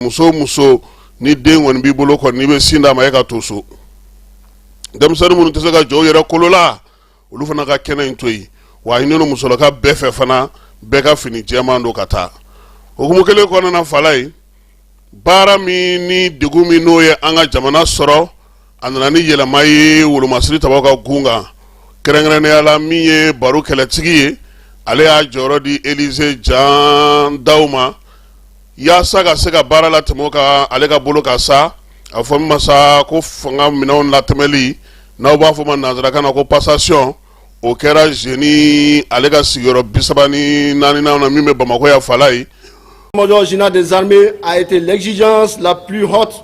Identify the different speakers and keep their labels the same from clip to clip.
Speaker 1: muso muso ni den kɔni b'i bolo kɔni n'i bɛ sin d'a ma e ka to so denmisɛnnin minnu tɛ se ka jɔ u yɛrɛ kolo la olu fana ka kɛnɛ in to yen wa a ɲinina musolaka bɛɛ fɛ fana bɛɛ ka fini jɛman don ka taa hukumu kelen kɔnɔna fala ye baara min ni degun min n'o ye an ka jamana sɔrɔ a nana ni yɛlɛma ye wolomasiri tabaw ka gun kan kɛrɛnkɛrɛnnenya la min ye baru kɛlɛtigi ye ale y'a jɔyɔrɔ di elize jan daw ma yaasa ka se ka baara latɛmɛ ka ale ka bolo kan sa a fɔ min ma sa ko fanga minɛnw latɛmɛli n'aw b'a fɔ ma nansarakan na ko passation o kɛra génie ale ka sigiyɔrɔ bi saba ni naaninan na min bɛ bamakɔ yan fala ye l'état-major
Speaker 2: général des armées a été l'exigence la plus haute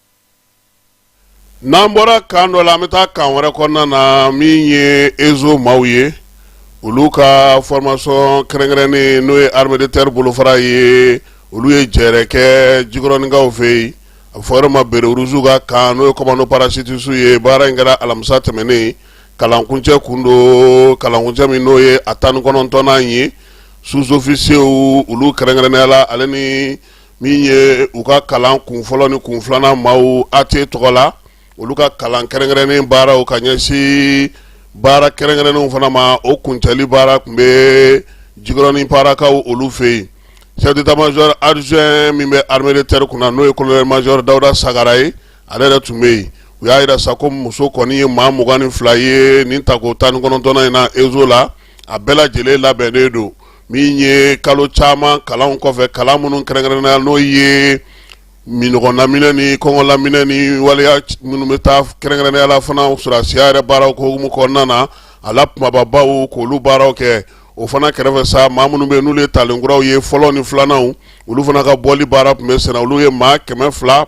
Speaker 1: n'an bɔra kan dɔ la an bɛ taa kan wɛrɛ kɔnɔna na min ye ezo maaw ye olu ka formation kɛrɛnkɛrɛnnen n'o ye armée de terre bolofara ye olu ye jɛrɛ kɛ jikɔrɔninkaw fɛ yen a fɔ yɔrɔ ma béret rouge ka kan n'o ye commando parachutiste ye baara in kɛra alamisa tɛmɛnen kalankuncɛ kun don kalankuncɛ min n'o ye a tan ni kɔnɔntɔnnan ye sous-officiers olu kɛrɛnkɛrɛnnenya la ale ni min ye u ka kalan kun fɔlɔ ni kun filanan maaw AT tɔgɔ la olu ka kalan kɛrɛnkɛrɛnnen baaraw ka ɲɛsin baara kɛrɛnkɛrɛnnenw fana ma o kuncɛli baara tun bɛ jikɔrɔnin parakaw olu fɛ yen chef d'état-major adjoint min bɛ armée de terre kunna na n'o ye colonel major dawuda sagara ye ale yɛrɛ tun bɛ yen u y'a jira sa ko muso kɔni ye maa mugan ni fila ye nin tako tan ni kɔnɔntɔnnan in na ezo la a bɛɛ lajɛlen labɛnnen don min ye kalo caman kalan kɔfɛ kalan minnu kɛrɛnkɛrɛnnenya n'o ye minnɔgɔ laminɛ ni kɔngɔ laminɛ ni waleya minnu bɛ taa kɛrɛnkɛrɛnnenya la fana sɔrɔsiya yɛrɛ baaraw ko hukumu kɔnɔna na a la kumababaw k'olu baaraw kɛ o fana kɛrɛfɛ sa maa minnu bɛ yen n'olu ye talenkuraw ye fɔlɔ ni filananw olu fana ka bɔli baara tun bɛ senna olu ye maa kɛmɛ fila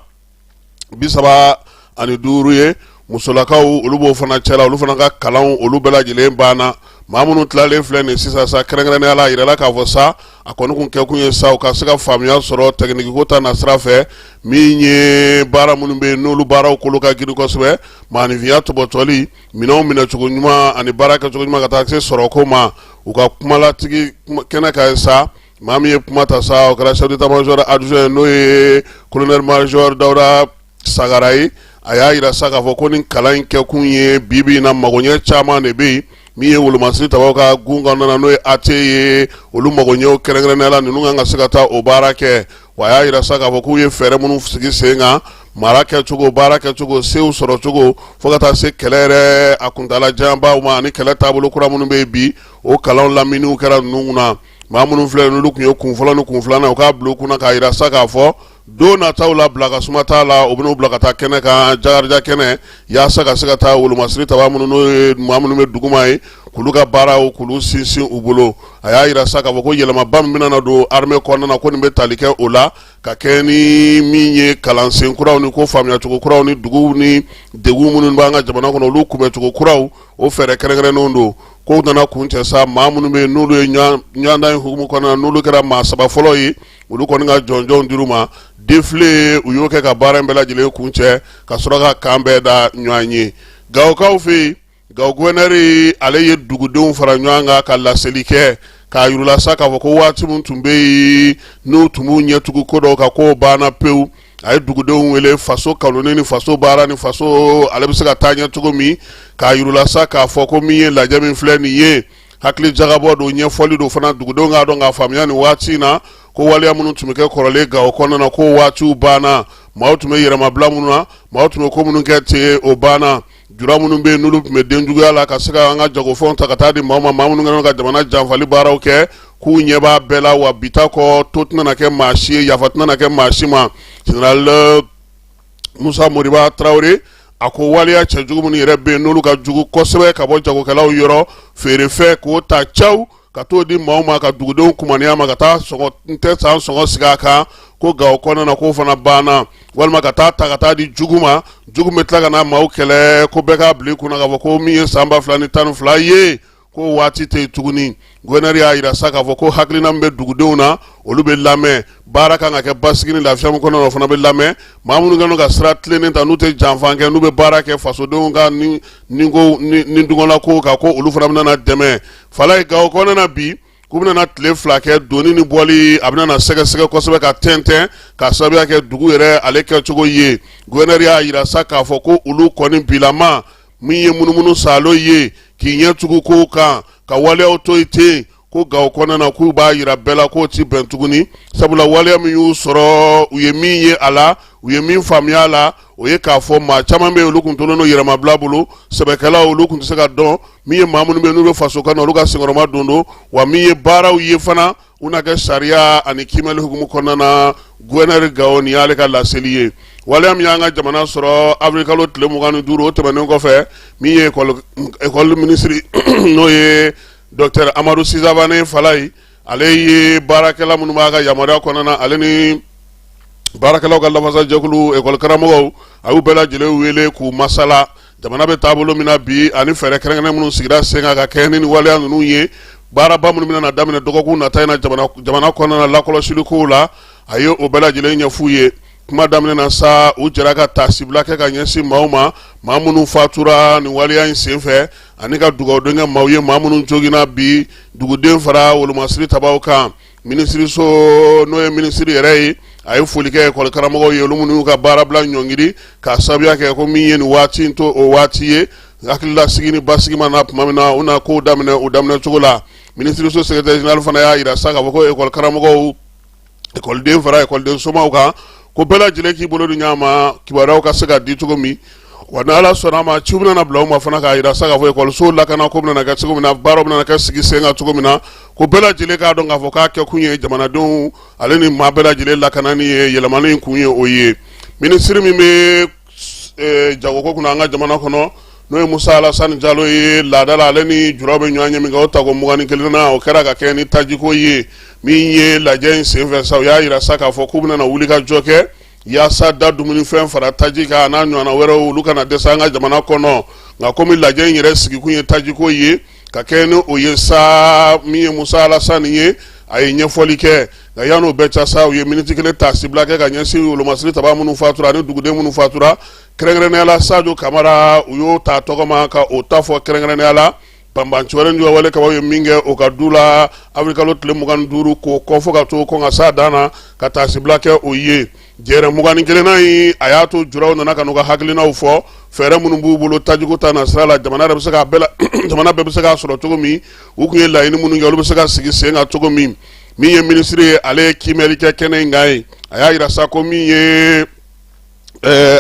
Speaker 1: bi saba ani duuru ye musolakaw olu b'o fana cɛla olu fana ka kalanw olu bɛɛ lajɛlen banna maa minnu tilalen filɛ nin sisan sa kɛrɛnkɛrɛnnenya la a jirala k'a fɔ sa a kɔni kun kɛkun ye sa u ka se ka faamuya sɔrɔ tɛkinikiko ta nasira fɛ min ye baara minnu bɛ yen n'olu baaraw kolo ka girin kosɛbɛ maaninfinya tɔbɔtɔli minɛnw minɛcogo ɲuman ani baara kɛcogo ɲuman ka taa se sɔrɔko ma u ka kumalatigi kɛnɛ kan sa Maa min ye kuma ta sa o kɛra chef d'état-major adjoint n'o ye colonel major dawuda sagara ye a y'a jira sa k'a fɔ ko nin kalan in kɛkun ye bibi in na magoɲɛ caman de bɛ yen min ye wolomasiri tabaw ka gun kan n'o ye AT ye olu magoɲɛw kɛrɛnkɛrɛnnenya la ninnu kan ka se ka taa o baara kɛ wa a y'a jira sa k'a fɔ k'u ye fɛɛrɛ minnu sigi sen kan mara kɛcogo baara kɛcogo sew sɔrɔcogo fo ka taa se kɛlɛ yɛrɛ a kuntaalajanbaw ma ani kɛlɛ taabolo kura minnu bɛ yen bi o kalan laminiw kɛra ninnu na Maa minnu filɛ n'olu tun ye kun fɔlɔ ni kun filanan u k'a bila u kunna k'a jira sa k'a fɔ don nataw la bila ka suma t'a la u bɛn'u bila ka taa kɛnɛ kan jaja kɛnɛ walasa ka se ka taa wolomasiri tabaa minnu n'o ye maa minnu bɛ duguma ye k'olu ka baaraw k'olu sinsin u bolo a y'a jira sa k'a fɔ ko yɛlɛmaba min bɛna don armée kɔnɔna na ko nin bɛ tali kɛ o la ka kɛ ni min ye kalansen kuraw ni ko faamuyacogo kuraw ni dugu ni degun minnu b'an ka jamana kɔnɔ olu kunbɛncogo kuraw o fɛɛrɛ kɛrɛnkɛrɛnnenw don kow nana kuncɛ sa maa minnu bɛ yen n'olu ye ɲɔgɔndan in hukumu kɔnɔna na n'olu kɛra maa saba fɔlɔ ye olu kɔni ka jɔnjɔn dir'u ma defile u y'o kɛ ka baara in bɛɛ lajɛlen kuncɛ ka sɔrɔ ka kan bɛɛ da ɲɔgɔn ye gawokaw fɛ yen gawo guwɛnɛri ale ye dugudenw fara ɲɔgɔn kan ka laseli kɛ k'a yurula sa k'a fɔ ko waati min tun bɛ yen n'u tun b'u ɲɛ tugu ko dɔw kan k'o banna pewu a ye dugudenw wele faso kanu ni faso baara ni faso ale bɛ se ka taa ɲɛ cogo min k'a yurula sa k'a fɔ ko min ye lajɛ min filɛ nin ye hakili jagabɔ don ɲɛfɔli don fana dugudenw k'a dɔn k'a faamuya nin waati in na ko waleya minnu tun bɛ kɛ kɔrɔlen gawo kɔnɔna na k'o waatiw banna maaw tun bɛ yɛrɛmabila minnu na maaw tun bɛ ko minnu kɛ ten o banna jula minnu bɛ yen n'olu tun bɛ denjuguya la ka se ka an ka jagofɛnw ta ka taa di maaw ma maa minnu kɛlen ka jamana janfali baaraw kɛ k'u ɲɛ b'a bɛɛ la wa bi ta kɔ to tɛna na kɛ maa si ye yafa tɛna na kɛ maa si ma général Musa Moriba Tarawele a ko waleya cɛjugu minnu yɛrɛ bɛ yen n'olu ka jugu kosɛbɛ ka bɔ jagokɛlaw yɔrɔ feerefɛn k'o ta caw ka t'o di maaw ma ka dugudenw kumaniya ma ka taa n tɛ san sɔngɔ sigi a kan ko gawo kɔnɔna na k'o fana banna walima ka taa ta ka taa di jugu ma jugu bɛ tila ka na maaw kɛlɛ ko bɛɛ k'a bila i kunna k'a fɔ ko min ye san ba fila ni tan ni fila ye k'o waati tɛ yen tuguni guwɛnɛri y'a jira sa k'a fɔ ko hakilina min bɛ dugudenw na olu bɛ lamɛn baara kan ka kɛ basigi ni lafiya min kɔnɔ o fana bɛ lamɛn maa minnu kɛlen ka sira tilennen ta n'u tɛ janfa kɛ n'u bɛ baara kɛ fasodenw ka ɲiniko ni dungɔlako kan ko olu fana bɛna dɛmɛ fala ye gawo kɔnɔna bi k'u bɛna tile fila kɛ donni ni bɔli a bɛna sɛgɛsɛgɛ kosɛbɛ k'a tɛntɛn k'a sababuya kɛ dugu yɛrɛ ale kɛcogo ye guwɛnɛri y'a jira sa k'a fɔ ko olu kɔni bilama min ye munumunu salo ye k'i ɲɛ tugu kow kan ka waleyaw to yen ten ko gawo kɔnɔna na k'u b'a jira bɛɛ la k'o ti bɛn tuguni sabula waleya min y'u sɔrɔ u ye min ye a la u ye min faamuya a la o ye k'a fɔ maa caman bɛ yen olu tun tolen don yɛrɛmabila bolo sɛbɛkɛlaw olu tun tɛ se ka dɔn min ye maa minnu bɛ yen n'u bɛ faso kanu na olu ka senkɔrɔmadon don wa min ye baaraw ye fana u na kɛ sariya ani kiimɛli hukumu kɔnɔna na guwɛnɛri gawo nin y'ale ka laseli ye waleya min y'an ka jamana sɔrɔ avril kalo tile mugan ni duuru o tɛmɛnen kɔfɛ min ye ekɔli minisiri n'o ye dɔktɛr amadu si savane fala ye ale ye baarakɛla minnu b'a ka yamaruya kɔnɔna na ale ni baarakɛlaw ka lafasajɛkulu ekɔli karamɔgɔw a y'u bɛɛ lajɛlen wele k'u masala jamana bɛ taabolo min na bi ani fɛɛrɛ kɛrɛnkɛrɛnnen minnu sigira sen kan ka kɛɲɛ ni nin waleya ninnu ye baaraba minnu bɛna daminɛ dɔgɔkun nata in na jamana kɔnɔna lakɔlɔsilikow la a ye o bɛɛ lajɛlen ɲɛf'u ye kuma daminɛ na sa u jɛra ka taasibila kɛ ka ɲɛsin maaw ma maa minnu fatura nin waleya in sen fɛ ani ka dugawudon kɛ maaw ye maa minnu joginna bi duguden fara wolomasiri tabaw kan minisiriso n'o ye minisiri yɛrɛ ye a ye foli kɛ ekɔli karamɔgɔw ye olu minnu ka baarabila ɲɔngiri k'a sababuya kɛ ko min ye nin waati in to o waati ye hakililasigi ni basigi ma na tuma min na u na kow daminɛ o daminɛ cogo la minisiriso sekeretɛri zenerali fana y'a jira sa k'a fɔ ko ekɔli karamɔgɔw ekɔliden fara ekɔliden somaw kan ko bɛɛ lajɛlen k'i bolo di ɲɔgɔn ma kibaruyaw ka se ka di cogo min Wa ni ala sɔnna a ma ciw bɛna bila u ma fana k'a jira sa k'a fɔ ekɔlisow lakanako bɛna kɛ cogo min na baaraw bɛna kɛ sigi sen kan cogo min na ko bɛɛ lajɛlen k'a dɔn k'a fɔ k'a kɛ kun ye jamanadenw ale ni maa bɛɛ lajɛlen lakanani ye yɛlɛmani in kun ye o ye minisiri min bɛ jagoko kunna an ka jamana kɔnɔ n'o ye musa alasani jalo ye laada la ale ni julaw bɛ ɲɔgɔnye min kɛ o tako mugan ni kelennan o kɛra ka kɛ ni tajiko ye min ye lajɛ in senfɛ sa u y'a jira sa k'a fɔ k'u bɛna wuli ka jɔ kɛ Yaasa da dumunifɛn fara taji kan n'a ɲɔgɔnna wɛrɛw olu kana dɛsɛ an ka jamana kɔnɔ nka kɔmi lajɛ in yɛrɛ sigikun ye tajiko ye ka kɛ ni o ye sa min ye musa alasani ye a ye ɲɛfɔli kɛ nka yani o bɛɛ cɛ sa u ye miniti kelen taasibila kɛ ka ɲɛsin wolomasiri taba minnu fatura ani duguden minnu fatura kɛrɛnkɛrɛnnenya la sajo kamara u y'o ta tɔgɔma ka o ta fɔ kɛrɛnkɛrɛnnenya la banbanciwale juguwale kɛbaw ye min kɛ o ka du la awiri kalo tile mugan ni duuru k'o kofɔ ka to ko ka sa dan na ka taasibila kɛ o ye jɛrɛ mugan ni kelennan in a y'a to julaw nana ka n'u ka hakilinaw fɔ fɛɛrɛ minnu b'u bolo tajiko ta na sira la jamana bɛɛ bɛ se k'a sɔrɔ cogo min u tun ye laɲini minnu kɛ olu bɛ se ka sigi sen kan cogo min min ye minisiri ye ale ye kiimɛli kɛ kɛnɛ in kan ye a y'a jira sa ko min ye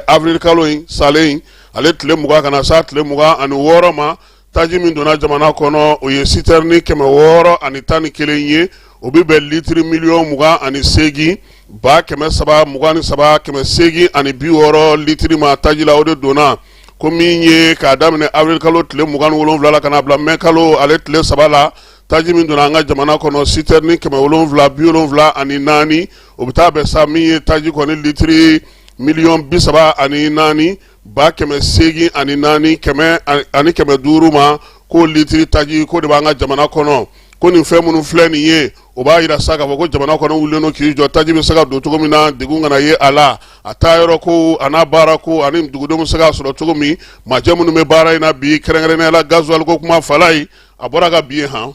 Speaker 1: awiri kalo in salen ale tile mugan ka na se tile mugan ani wɔɔrɔ ma taji min donna jamana kɔnɔ o ye sitɛrɛni kɛmɛ wɔɔrɔ ani tan ni kelen ye o bɛ bɛn litiri miliyɔn mugan ani seegin ba kɛmɛ saba mugan ni saba kɛmɛ seegin ani bi wɔɔrɔ litiri ma taji la o de donna ko min ye k'a daminɛ awiri kalo tile mugan ni wolonwula la ka n'a bila mɛ kalo ale tile saba la taji min donna an ka jamana kɔnɔ sitɛrɛni kɛmɛ wolonwula bi wolonwula ani naani o bɛ taa bɛn sa min ye taji kɔni litiri miliyɔn bi saba ani naani ba kɛmɛ seegin ani naani kɛmɛ ani kɛmɛ duuru ma ko litiri taji ko de b'an ka jamana kɔnɔ ko nin fɛn minnu filɛ nin ye o b'a jira sa k'a fɔ ko jamana kɔnɔ wulilen don k'i jɔ taji bɛ se ka don cogo min na degun kana ye a la a tayɔrɔkow an'a baarakow ani dugudenw bɛ se k'a sɔrɔ cogo min majɛ minnu bɛ baara in na bi kɛrɛnkɛrɛnnenya la gazuwali ko kuma fala ye a bɔra ka bi ye han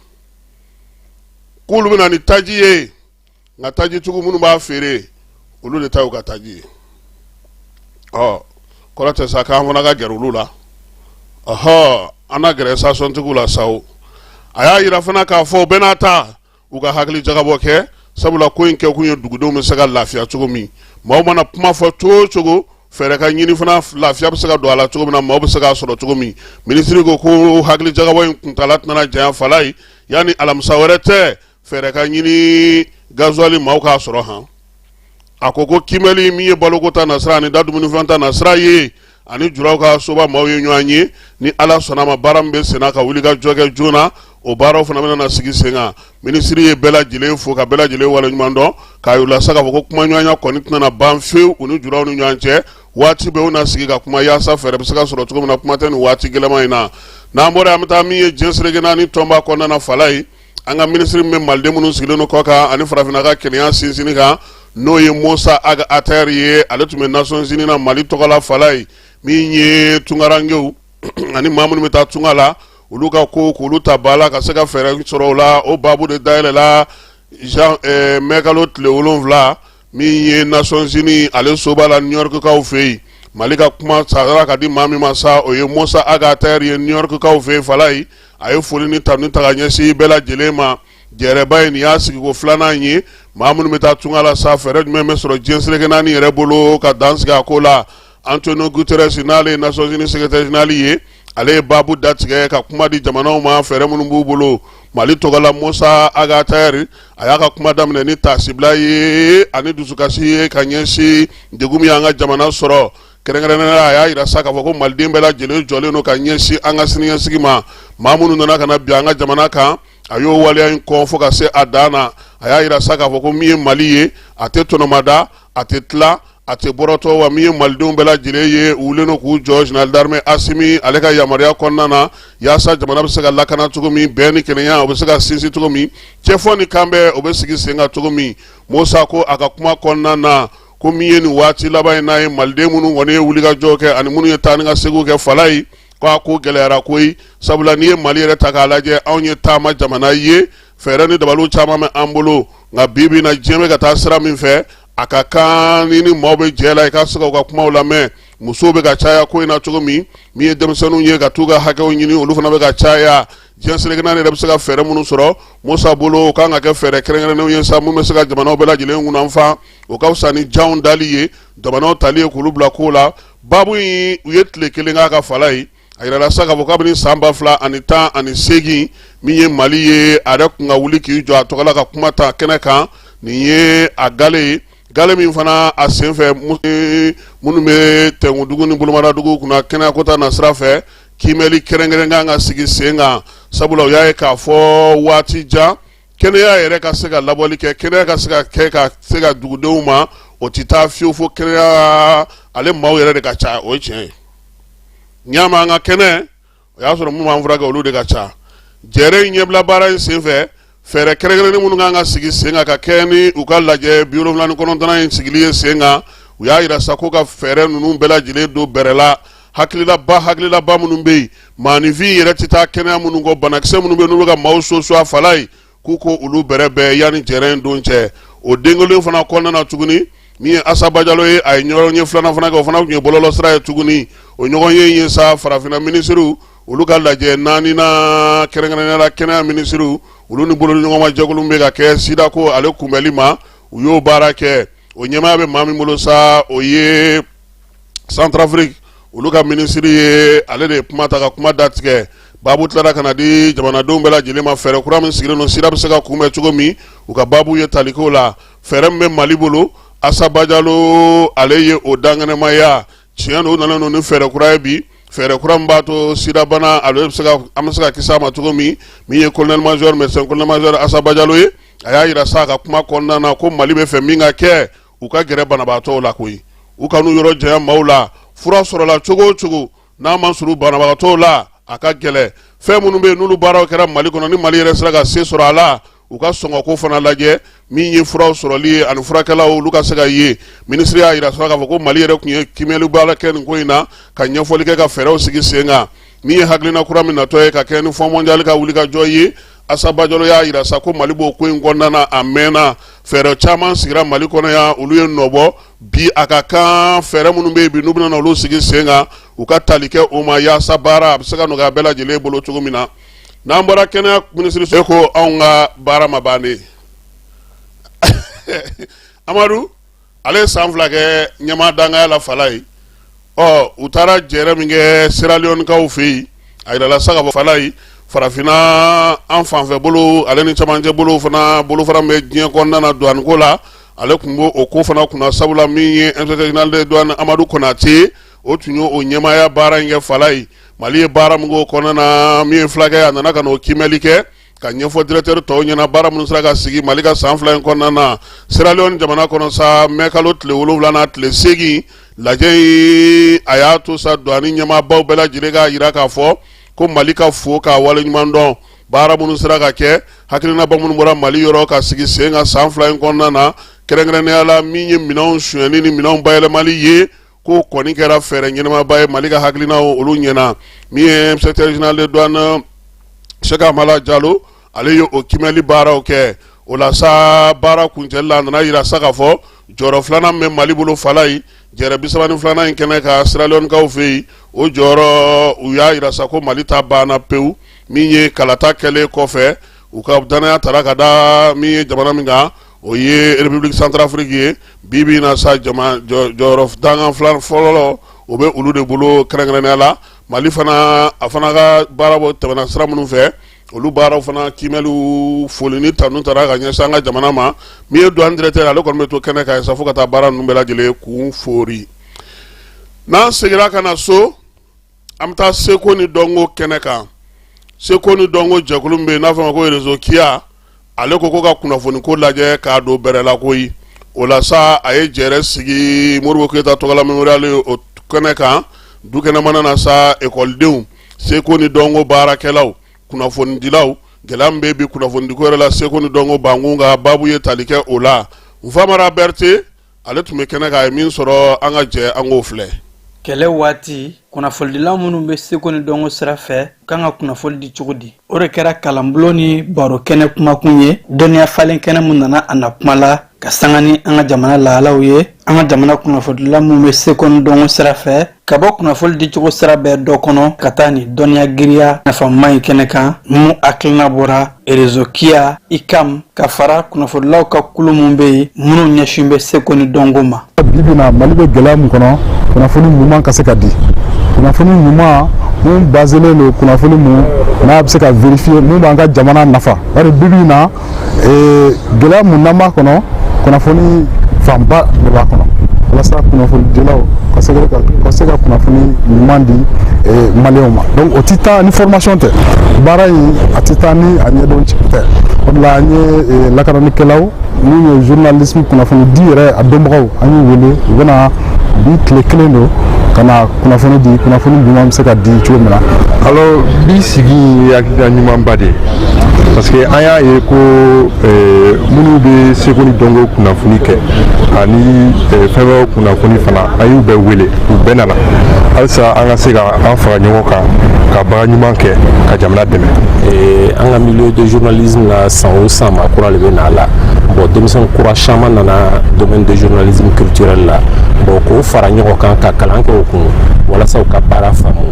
Speaker 1: k'olu bɛna ni taji ye nka taji tigiw minnu b'a feere olu de ta y'u ka taji ye o kɔrɔ tɛ sa k'an fana ka gɛrɛ olu la ɔhɔ an na gɛrɛ station tigiw la sa o a y'a yira fana k'a fɔ u bɛɛ n'a ta u ka hakili jagabɔ kɛ sabula ko in kɛ kun ye dugudenw bɛ se ka lafiya cogo min maaw mana kuma fɔ cogo o cogo fɛɛrɛ ka ɲini fana lafiya bɛ se ka don a la cogo min na maaw bɛ se k'a sɔrɔ cogo min minisiri ko ko hakili jagabɔ in kuntaala tɛna janya fala ye yanni alamisa wɛrɛ tɛ fɛɛrɛ ka ɲini gazuwali maaw k'a sɔrɔ han a ko ko kiimɛli min ye baloko ta nasira ani da dumunifɛn ta nasira ye ani juraw ka soba maaw ye ɲɔgɔn ye ni ala sɔnna ma baara min bɛ senna ka wuli ka jɔ kɛ joona o baaraw fana bɛna na sigi sen kan minisiri ye bɛɛ lajɛlen fo ka bɛɛ lajɛlen waleɲuman dɔn k'a yir'u la sa k'a fɔ ko kumaɲɔgɔnya kɔni tɛna ban fewu u ni juraw ni ɲɔgɔn cɛ waati bɛɛ u na sigi ka kuma yaasa fɛɛrɛ bɛ se ka sɔrɔ cogo min na kuma tɛ nin waati gɛlɛman in na n'an bɔra an bɛ taa min ye diɲɛ seleke naani tɔnba kɔnɔna na fala ye an ka minisiri min bɛ maliden minnu sigilen don kɔ kan ani farafinna ka kelenya sinsinni kan n'o ye Mossa Ag Attaher ye ale tun bɛ Nations Unies na mali tɔgɔla fala ye min ye tungarankew ani maa minnu bɛ taa tunga la olu ka ko k'olu ta ba la ka se ka fɛɛrɛ sɔrɔ o la o baabu de dayɛlɛla mɛkalo tile wolonwula min ye nasɔnzini ale soba la niyɔrɔkikaw fɛ yen mali ka kuma sara ka di maa min ma sa o ye Mossa Ag Attaher ye niyɔrɔkikaw fɛ yen fala ye a ye foli ni tanuni ta ka ɲɛsin bɛɛ lajɛlen ma jɛrɛba ye nin y'a sigiko filanan ye maa minnu bɛ taa tunga la sa fɛɛrɛ jumɛn bɛ sɔrɔ diɲɛ seleke naani yɛrɛ bolo ka dan sigi a ko la Antonio Guterres n'ale ye Nations Unies secrétaire général ye ale ye baabu datigɛ ka kuma di jamanaw ma fɛɛrɛ minnu b'u bolo Mali tɔgɔla Mossa Ag Attaher a y'a ka kuma daminɛ ni taasibila ye ani dusukasi ye ka ɲɛsin degun min y'an ka jamana sɔrɔ kɛrɛnkɛrɛnnenya la a y'a yira sa k'a fɔ ko maliden bɛɛ lajɛlen jɔlen don ka ɲɛsin an ka siniɲɛsigi ma maa minnu nana ka na bin an ka jamana kan a y'o waleya in kɔn fo ka se a dan na a y'a yira sa k'a fɔ ko min ye mali ye a tɛ tɔnɔmada a tɛ tila a tɛ bɔrɔtɔ wa min ye malidenw bɛɛ lajɛlen ye u wulilen k'u jɔ général d'armée Assimi ale ka yamaruya kɔnɔna na yaasa jamana bɛ se ka lakana cogo min bɛn ni kelenya o bɛ se ka sinsin cogo min cɛfɔ ni kanbɛn o bɛ sigi sen kan cogo min Mossa ko a ka kuma kɔnɔna na ko min ye nin waati laban in na ye maliden minnu kɔni ye wulikajɔ kɛ ani minnu ye taa ni ka seginw kɛ fala ye ko a ko gɛlɛyara koyi sabula n'i ye mali yɛrɛ ta k'a lajɛ anw ye taama jamana ye fɛɛrɛ ni dabaliw caman bɛ an bolo nka bi bi na diɲɛ bɛ ka taa sira min fɛ a ka kan ni ni maaw bɛ jɛ la i ka se ka u ka kumaw lamɛn musow bɛ ka caya ko in na cogo min min ye denmisɛnninw ye ka t'u ka hakɛw ɲini olu fana bɛ ka caya diɲɛ seleke naani yɛrɛ bɛ se ka fɛɛrɛ minnu sɔrɔ Mossa bolo o kan ka kɛ fɛɛrɛ kɛrɛnkɛrɛnnenw ye sa min bɛ se ka jamanaw bɛɛ lajɛlen kunnafan o ka fisa ni janw dali ye jamanaw tali ye k'olu bila ko la baabu in u ye tile kelen k'a kan fala ye a yirala sa k'a fɔ kabini san ba fila ani tan ani segin min ye mali ye a yɛrɛ kun ka wuli k'i jɔ a tɔgɔ la ka kuma ta kɛnɛ kan nin ye a gale ye gale min fana a senfɛ minnu bɛ tɛnkundugu ni bolomadadugu kunna kɛnɛyako ta nasira fɛ kiimɛli kɛrɛnkɛrɛn kan ka sigi sen kan sabula u y'a ye k'a fɔ waati jan kɛnɛya yɛrɛ ka se ka labɔli kɛ kɛnɛya ka se ka kɛ ka se ka dugudenw ma o tɛ taa fiyewu fo kɛnɛya ale maaw yɛrɛ de ka ca o ye tiɲɛ ye n'i y'a mɛn an ka kɛnɛ o y'a sɔrɔ minnu b'an furakɛ olu de ka ca jɛrɛ in ɲɛbila baara in senfɛ fɛɛrɛ kɛrɛnkɛrɛnnen minnu kan ka sigi sen kan ka kɛ ni u ka lajɛ biwolonwula ni kɔnɔntɔnnan in sigili ye sen kan u y'a yira sa ko ka fɛɛrɛ ninnu bɛɛ lajɛlen don bɛrɛ la hakililaba hakililaba minnu bɛ yen maaninfin yɛrɛ tɛ taa kɛnɛya minnu kɔ banakisɛ minnu bɛ n'u bɛ ka maaw soso a fala ye k'u ko olu bɛrɛbɛn yanni jɛrɛ in don cɛ o don kelen fana kɔnɔna na tuguni min ye asa bajalo ye a ye ɲɔgɔnye filanan fana kɛ o fana tun ye bɔlɔlɔ sira ye tuguni o ɲɔgɔnye in ye sa farafinna minisiriw olu ka lajɛ naaninan kɛrɛnkɛrɛnnenya la kɛnɛya minisiriw olu ni bolo ɲɔgɔnma jɛkulu bɛ ka kɛ sida ko ale kunbɛnli ma u y'o baara kɛ o ɲɛmaaya bɛ maa min bolo sa o ye centrafrique olu ka minisiri ye ale de ye kuma ta ka kuma datigɛ baabu tilara ka na di jamanadenw bɛɛ lajɛlen ma fɛɛrɛ kura min sigilen don sida bɛ se ka kunbɛn cogo min u ka baabu ye taliko la fɛɛrɛ min bɛ mali bolo asa bajalo ale ye o dankɛnɛmaya tiɲɛ don u nana ni fɛɛrɛ kura ye bi fɛɛrɛ kura min b'a to sidabana ale bɛ se ka an bɛ se ka kisi a ma cogo min min ye colonel major médecin colonel major asa bajalo ye a y'a yira sa a ka kuma kɔnɔna na ko mali bɛ fɛ min ka kɛ u ka gɛrɛ banabagatɔw la koyi u kan'u yɔrɔ janya maaw la fura sɔrɔla cogo o cogo n'a ma surun banabagatɔw la a ka gɛlɛn fɛn minnu bɛ yen n'olu baaraw kɛra mali kɔnɔ ni mali yɛrɛ sera ka se sɔrɔ a la u ka sɔngɔko fana lajɛ min ye furaw sɔrɔli ye ani furakɛlaw olu ka se ka ye minisiri y'a yira sa k'a fɔ ko mali yɛrɛ tun ye kiimɛli baara kɛ nin ko in na ka ɲɛfɔli kɛ ka fɛɛrɛw sigi sen kan min ye hakilina kura min natɔ ye ka kɛ ni fonds mondial ka wulikajɔ ye asa bajalo y'a yira sa ko mali b'o ko in kɔnɔna na a mɛnna fɛɛrɛ caman sigira mali kɔnɔ yan olu ye nɔbɔ bi a ka kan fɛɛrɛ minnu bɛ yen bi n'u bɛna olu sigi sen kan u ka tali kɛ o ma yaasa baara a bɛ se ka nɔgɔya bɛɛ lajɛlen bolo cogo min na n'an bɔra kɛnɛya minisiriso e ko anw ka baara ma ban dɛ amadu ale ye san fila kɛ ɲɛmaa dankanya la fala ye ɔ u taara jɛrɛ min kɛ sierra leone kaw fɛ yen a yirala sa k'a fɔ fala ye farafinna an fanfɛ bolo ale ni camancɛ bolo fana bolofara min bɛ diɲɛ kɔnɔna na douane ko la ale tun b'o o ko fana kunna sabula min ye inspecteur général de douane amadu konate o tun ye o ɲɛmaaya baara min kɛ fala ye mali ye baara min k'o kɔnɔna na min ye fulakɛ a nana ka na o kiimɛli kɛ ka ɲɛfɔ directeur tɔw ɲɛna baara minnu sera ka sigi mali ka san fila in kɔnɔna na siralɛɔni jamana kɔnɔ sa mɛ kalo tile wolonwula n'a tile seegin lajɛ in a y'a to sa douane ɲɛmaabaw bɛɛ lajɛlen k'a jira k'a fɔ ko mali ka fo k'a wale ɲuman dɔn baara minnu sera ka kɛ hakilinabaw minnu bɔra mali yɔrɔ ka sigi sen kan san fila in kɔnɔna na kɛrɛnkɛrɛnnenya la min ye minɛnw sonyɛni ni minɛnw bayɛlɛmali ye ko kɔni kɛra fɛɛrɛ ɲɛnamaba ye mali ka hakilinaw olu ɲɛna min ye inspecteur général de douane cheikh amala jalo ale ye o kiimɛli baaraw kɛ o la sa baara kuncɛli la a nana jira sa k'a fɔ jɔyɔrɔ filanan min bɛ mali bolo fala ye jɛrɛ bisaba ni filanan in kɛnɛ kan siralɛɔnikaw fɛ yen o jɔyɔrɔ u y'a jira sa ko mali ta banna pewu min ye kalata kɛlen kɔfɛ u ka dannaya taara ka da min ye jamana min kan o ye république centrafrique ye bi bi na sa jama jɔyɔrɔ dankan filan fɔlɔ o bɛ olu de bolo kɛrɛnkɛrɛnnenya la mali fana a fana ka baara bɔ tɛmɛna sira minnu fɛ olu baaraw fana kiimɛliw foli ni tanu taara ka ɲɛsin an ka jamana ma min ye douane directeur ale kɔni bɛ to kɛnɛ kan sa fo ka taa baara ninnu bɛɛ lajɛlen kun foori n'an seginna ka na so an bɛ taa seko ni dɔnko kɛnɛ kan seko ni dɔnko jɛkulu min bɛ yen n'a fɔ ma ko rezo kiya ale ko ko ka kunnafoni ko lajɛ k'a don bɛrɛ la koyi o la sa a ye jɛrɛ sigi modibo keyita tɔgɔla memorial o kɛnɛ kan du kɛnɛmana na sa ekɔlidenw seko ni dɔnko baarakɛlaw kunnafonidilaw gɛlɛya min bɛ bi kunnafonidiko yɛrɛ la seko ni dɔnko bankun ka baabu ye tali kɛ o la nfamara berete ale tun bɛ kɛnɛ kan a ye min sɔrɔ an ka jɛ an k'o filɛ kɛlɛ
Speaker 3: waati kunnafolidilaw minnu bɛ seko ni dɔnko sira fɛ u ka kan ka kunnafoli di cogo di o de kɛra kalanbulon ni baro kɛnɛ kumakun ye dɔnniya falen kɛnɛ min nana a na kuma la ka sanga ni an ka jamana lahalaw ye an ka jamana kunnafolidilaw minnu bɛ seko ni dɔnko sira fɛ ka bɔ kunnafoli di cogo sira bɛɛ dɔ kɔnɔ ka taa ni dɔnniya girinya nafama ye kɛnɛ kan mun hakilina bɔra rezo kiya ikam ka fara kunnafonilaw ka kulu mun bɛ yen minnu ɲɛsin bɛ seko ni dɔnko ma bibi na mali
Speaker 4: bɛ gɛlɛya min kɔnɔ kunnafoni ɲuman ka se ka di kunnafoni ɲuman mun baselen don kunnafoni mun n'a bɛ se ka vérifier mun b'an ka jamana nafa bari bibi na gɛlɛya mun n'an b'a kɔnɔ kunnafoni fanba de b'a kɔnɔ walasa kunnafonidilaw ka se ka kunnafoni ɲuman di maliyɛnw ma donc o tɛ taa ni formation tɛ baara in a tɛ taa ni a ɲɛdɔn tɛ o de la an ye lakananikɛlaw n'u ye journalisme kunnafonidi yɛrɛ a dɔnbagaw an y'u wele u bɛna bi tile kelen don ka na kunnafoni di kunnafoni ɲuman bɛ se ka di cogo min na alors bi
Speaker 5: sigi ye hakilina ɲumanba de ye parce que an y'a ye ko euh, minnu bɛ seko ni dɔnko kunnafoni kɛ ani euh, fɛn wɛrɛw kunnafoni fana an y'u bɛɛ wele u bɛɛ nana halisa an ka se ka an fara ɲɔgɔn kan ka baara ɲuman kɛ ka jamana dɛmɛ euh, an ka
Speaker 6: milieu de journalisme la san o san maa kura de bɛ na a la bon denmisɛn kura caman nana domaine de journalisme culturel la bon k'u fara ɲɔgɔn kan ka kalan kɛ u kun walasa u ka baara faamu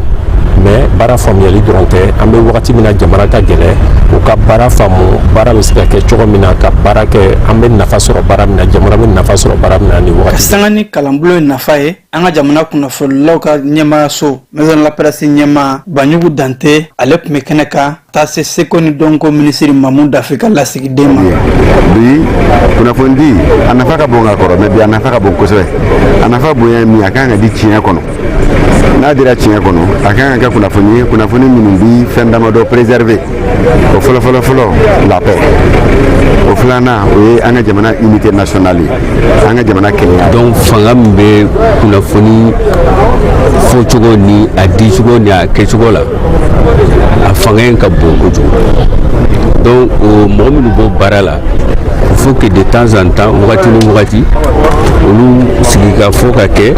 Speaker 6: mais baara faamuyali dɔrɔn tɛ an bɛ wagati min na jamana ka gɛlɛ u ka baara faamu baara bɛ se ka kɛ cogo min na ka baara kɛ an bɛ nafa sɔrɔ baara min na jamana bɛ nafa sɔrɔ baara min na ni wagati ka sanga ni kalanbolo
Speaker 3: ye nafa ye an ka jamana kunnafonilaw ka ɲɛmaayaso maison de la presse ɲɛmaa banjugu dante ale tun bɛ kɛnɛ kan taa se seko ni dɔnko minisiri mamu dafe ka lasigiden ma
Speaker 7: bi kunnafoni di a nafa ka bon ka kɔrɔ mais bi a nafa ka bon kosɛbɛ a nafa ka bon ɲa min a kan ka di tiɲɛ kɔnɔ n'a dira tiɲɛ kɔnɔ a kan ka kɛ kunnafoni ye kunnafoni minnu bi fɛn damadɔ préserver o fɔlɔfɔlɔ fɔlɔ la paix o filanan o ye an ka jamana unité nationale ye an ka jamana kelenya donc fanga min bɛ
Speaker 8: kunnafoni fɔcogo ni a dicogo ni a kɛcogo la a fanga in ka bon kojugu donc o mɔgɔ minnu b'o baara la il faut que de temps en temps wagati ni wagati olu sigi ka fɔ ka kɛ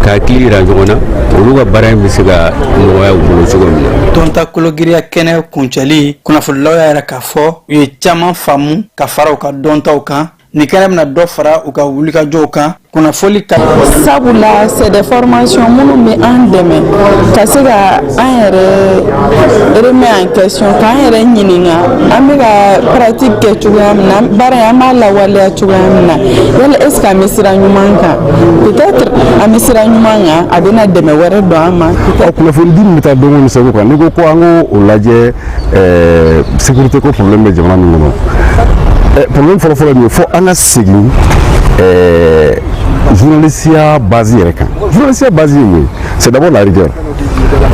Speaker 8: ka hakili yira ɲɔgɔn na olu ka baara in bɛ se ka nɔgɔya u bolo cogo min na dɔnta
Speaker 3: kologiriya kɛnɛ kuncɛli kunnafonilaw y'a yira k'a fɔ u ye caman faamu ka fara u ka dɔntaw kan Nin kɛnɛ bɛna dɔ fara u ka wulikajɔw kan kunnafoli ka sabula
Speaker 9: c'est des formations minnu bɛ an dɛmɛ ka se ka an yɛrɛ remet en question k'an yɛrɛ ɲininka an bɛ ka pratique kɛ cogoya min na baara in an b'a lawaleya cogoya min na yala est ce que an bɛ sira ɲuman kan peut-être an bɛ sira ɲuman kan a bɛna dɛmɛ wɛrɛ don an ma. Ɔ kunnafoni di min bɛ taa
Speaker 7: dɔnko ni seko kan n'i ko ko an k'o lajɛ sécurité ko problème bɛ jamana min kɔnɔ eh, problème fɔlɔfɔlɔ min ye fo an ka segin eh, journalisiya base yɛrɛ kan journalisiya base ye mun ye c'est d'abord la rigueur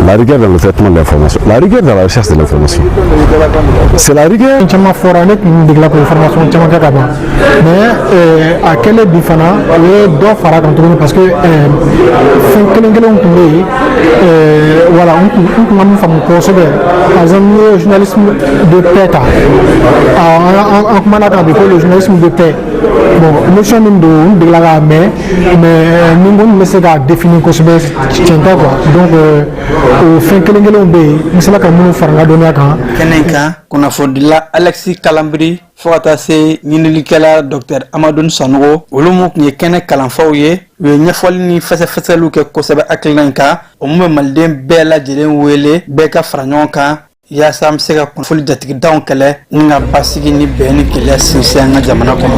Speaker 7: la rigueur dans le traitement de l'information la rigueur dans la recherche de l'information c'est la rigueur caman fɔra ne tun
Speaker 10: degela k'o formation caman kɛ ka ban mais euh, a kɛlen bi fana o ye dɔ fara a kan tuguni parce que euh, fɛn kelen kelenw tun bɛ yen euh, voilà n tun n tun ma min faamu kosɛbɛ par exemple n'i ye journalisme de paix ta an kumana a kan bi ko le journalisme de paix bon notion min don n degela k'a mɛn mais ni n ko n bɛ se k'a définir kosɛbɛ tiɲɛ tɛ quoi donc o fɛn kelen kelenw bɛ yen n sera ka minnu fara n ka dɔnniya kan kɛnɛ kan
Speaker 3: kunnafonidila alexis kalanbiri fo ka taa se ɲinilikɛla dɔktɛr amadun sanogo olu min tun ye kɛnɛ kalanfaw ye u ye ɲɛfɔli ni fɛsɛfɛsɛliw kɛ kosɛbɛ hakilina in kan o min bɛ maliden bɛɛ lajɛlen wele bɛɛ ka fara ɲɔgɔn kan yaasa an bɛ se ka kunnafoni jatigitanw kɛlɛ ni ka basigi ni bɛn ni kelenya sinsin an ka jamana kɔnɔ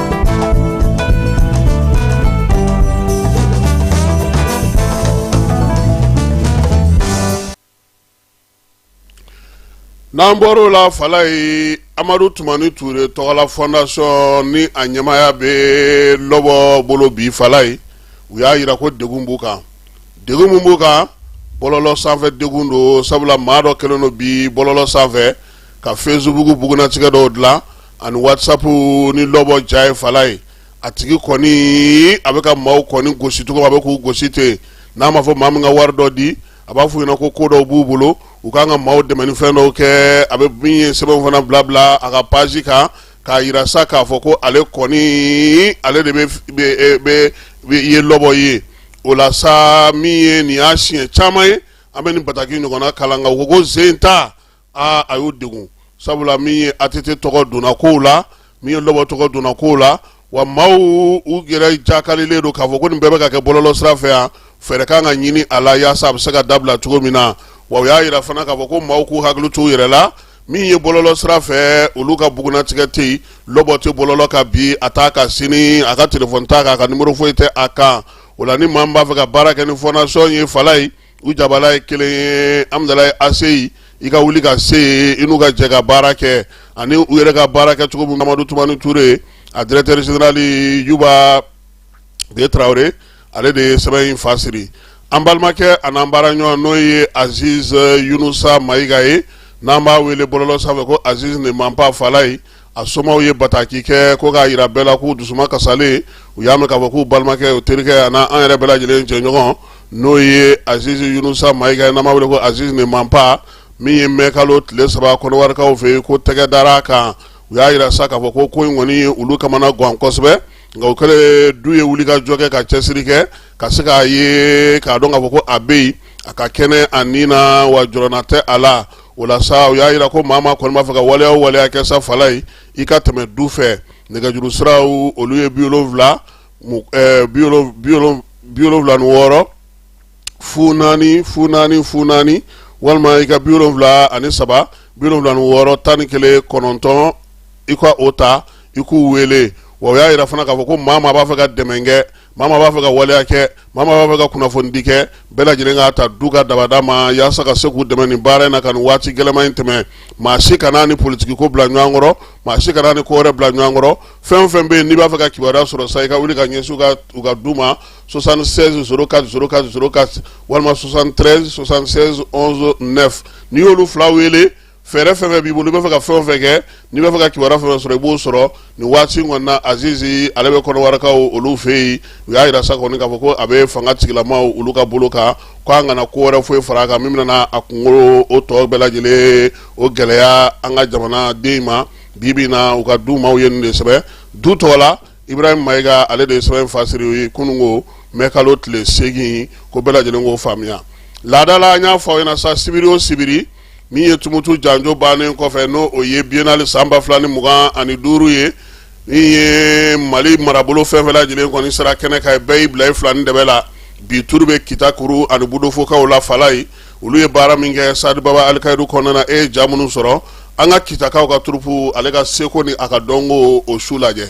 Speaker 1: N'an bɔra o la fala ye amadu tumani ture tɔgɔla fondation ni a ɲɛmaaya bɛ lɔbɔ bolo bi fala ye u y'a jira ko degun b'u kan degun min b'u kan bɔlɔlɔ sanfɛ degun don sabula maa dɔ kɛlen don bi bɔlɔlɔ sanfɛ ka facebook bugunnatigɛ dɔw dilan ani wasapu ni lɔbɔ ja ye fala ye a tigi kɔni a bɛ ka maaw kɔni gosi cogo a bɛ k'u gosi ten n'a m'a fɔ maa min ka wari dɔ di a b'a fɔ u ɲɛna ko ko dɔw b'u bolo u kan ka maaw dɛmɛni fɛn dɔw kɛ a bɛ min ye sɛbɛn fana bila bila a ka page kan k'a jira sa k'a fɔ ko ale kɔni ale de bɛ ye lɔbɔ ye o la sa min ye nin y'a siɲɛ caman ye an bɛ nin bataki ɲɔgɔnna kalan nka u ko sen t'a aa a y'o degun sabula min ye ATT tɔgɔ donna kow la min ye lɔbɔ tɔgɔ donna kow la wa maaw u yɛrɛ jakalilen don k'a fɔ ko nin bɛɛ bɛ ka kɛ bɔlɔlɔ sira fɛ yan fɛɛrɛ kan ka ɲini a la yaasa a bɛ se ka dabila cogo min na wa u y'a jira fana k'a fɔ ko maaw k'u hakili to u yɛrɛ la min ye bɔlɔlɔ sira fɛ olu ka bugunnatigɛ tɛ yen lɔbɔ tɛ bɔlɔlɔ kan bi a t'a kan sini a ka telefɔni t'a kan a ka nimɔrɔ foyi tɛ a kan o la ni maa min b'a fɛ ka baara kɛ ni fondation ye fala ye u jabala ye kelen ye hamdalayi ACI i ka wuli ka se yen i n'u ka jɛ ka baara kɛ ani u yɛrɛ ka baara kɛ cogo min amadu tumani ture a directeur général yuba de tarawele ale de ye sɛbɛn in fa siri an balimakɛ an'an baara ɲɔgɔn n'o ye aziz yunusa mayiga ye n'an b'a wele bɔlɔlɔ sanfɛ ko aziz ne ment pas fala ye a somaw ye bataki kɛ ko k'a jira bɛɛ la k'u dusuma kasalen u y'a mɛn k'a fɔ k'u balimakɛ o terikɛ ani an yɛrɛ bɛɛ lajɛlen jɛɲɔgɔn n'o ye aziz yunusa mayiga n'an b'a wele ko aziz ne ment pas min ye mɛkalo tile saba kɔnɔwarikaw fɛ yen ko tɛgɛ dara a kan u y'a jira sa k'a fɔ ko ko in kɔni ye olu kamana gan kosɛbɛ nka o kɛlen du ye wuli ka jɔ kɛ ka cɛsiri kɛ ka se k'a ye k'a dɔn k'a fɔ ko a bɛ yen a ka kɛnɛ a ni na wa jɔrɔna tɛ a la o la sa u y'a jira ko maa kɔni b'a fɛ ka waleya o waleya kɛ sa fala ye i ka tɛmɛ du fɛ nɛgɛjuru siraw olu ye bi wolonwula eh, bi wolonwula ni wɔɔrɔ fu naani fu naani fu naani walima i ka bi wolonwula ani saba bi wolonwula ni wɔɔrɔ tan ni kelen kɔnɔntɔn i ka o ta i k'u wele wa u y'a jira fana k'a fɔ ko maa maa b'a fɛ ka dɛmɛ kɛ maa min b'a fɛ ka waleya kɛ maa min b'a fɛ ka kunnafonidi kɛ bɛɛ lajɛlen k'a ta du ka dabada ma yaasa ka se k'u dɛmɛ nin baara in na ka nin waati gɛlɛma in tɛmɛ maa si kana a ni politikiko bila ɲɔgɔn kɔrɔ maa si kana a ni ko wɛrɛ bila ɲɔgɔn kɔrɔ fɛn o fɛn bɛ yen n'i b'a fɛ ka kibaruya sɔrɔ sa i ka wuli ka ɲɛsin u ka du ma 76 04 04 04 walima 73 76 11 9 n'i y'olu fila wele fɛɛrɛ fɛn fɛn b'i bolo i b'a fɛ ka fɛn o fɛn kɛ n'i b'a fɛ ka kibaruya fɛn fɛn sɔrɔ i b'o sɔrɔ nin waati in kɔnɔna azizi ale bɛ kɔnɔwarakaw olu fɛ yen u y'a yira sa kɔni k'a fɔ ko a bɛ fanga tigilamaw olu ka bolo kan ko an kana ko wɛrɛ foyi fara a kan min bɛna a kunko o tɔ bɛɛ lajɛlen o gɛlɛya an ka jamanaden ma bi bi in na u ka du maaw ye nin de sɛbɛn du tɔgɔ la ibrahim mayiga ale de ye sɛbɛn in fasiri ye kunun ko mɛ kalo tile seegin ko bɛɛ lajɛlen k'o faamuya laada la an y'a fɔ aw ɲɛna sa sibiri o sibiri min ye tumutu janjo bannen kɔfɛ n'o o ye biennale san ba fila ni mugan ani duuru ye min ye mali marabolo fɛn fɛn lajɛlen kɔni sera kɛnɛ kan bɛɛ y'i bila i fila ni dɛbɛ la bi turu bɛ kita kuru ani budofokaw la falaye olu ye baara min kɛ stade baba alikayiru kɔnɔna e ye ja minnu sɔrɔ an ka kitakaw ka turupu ale ka seko ni a ka dɔnko o su lajɛ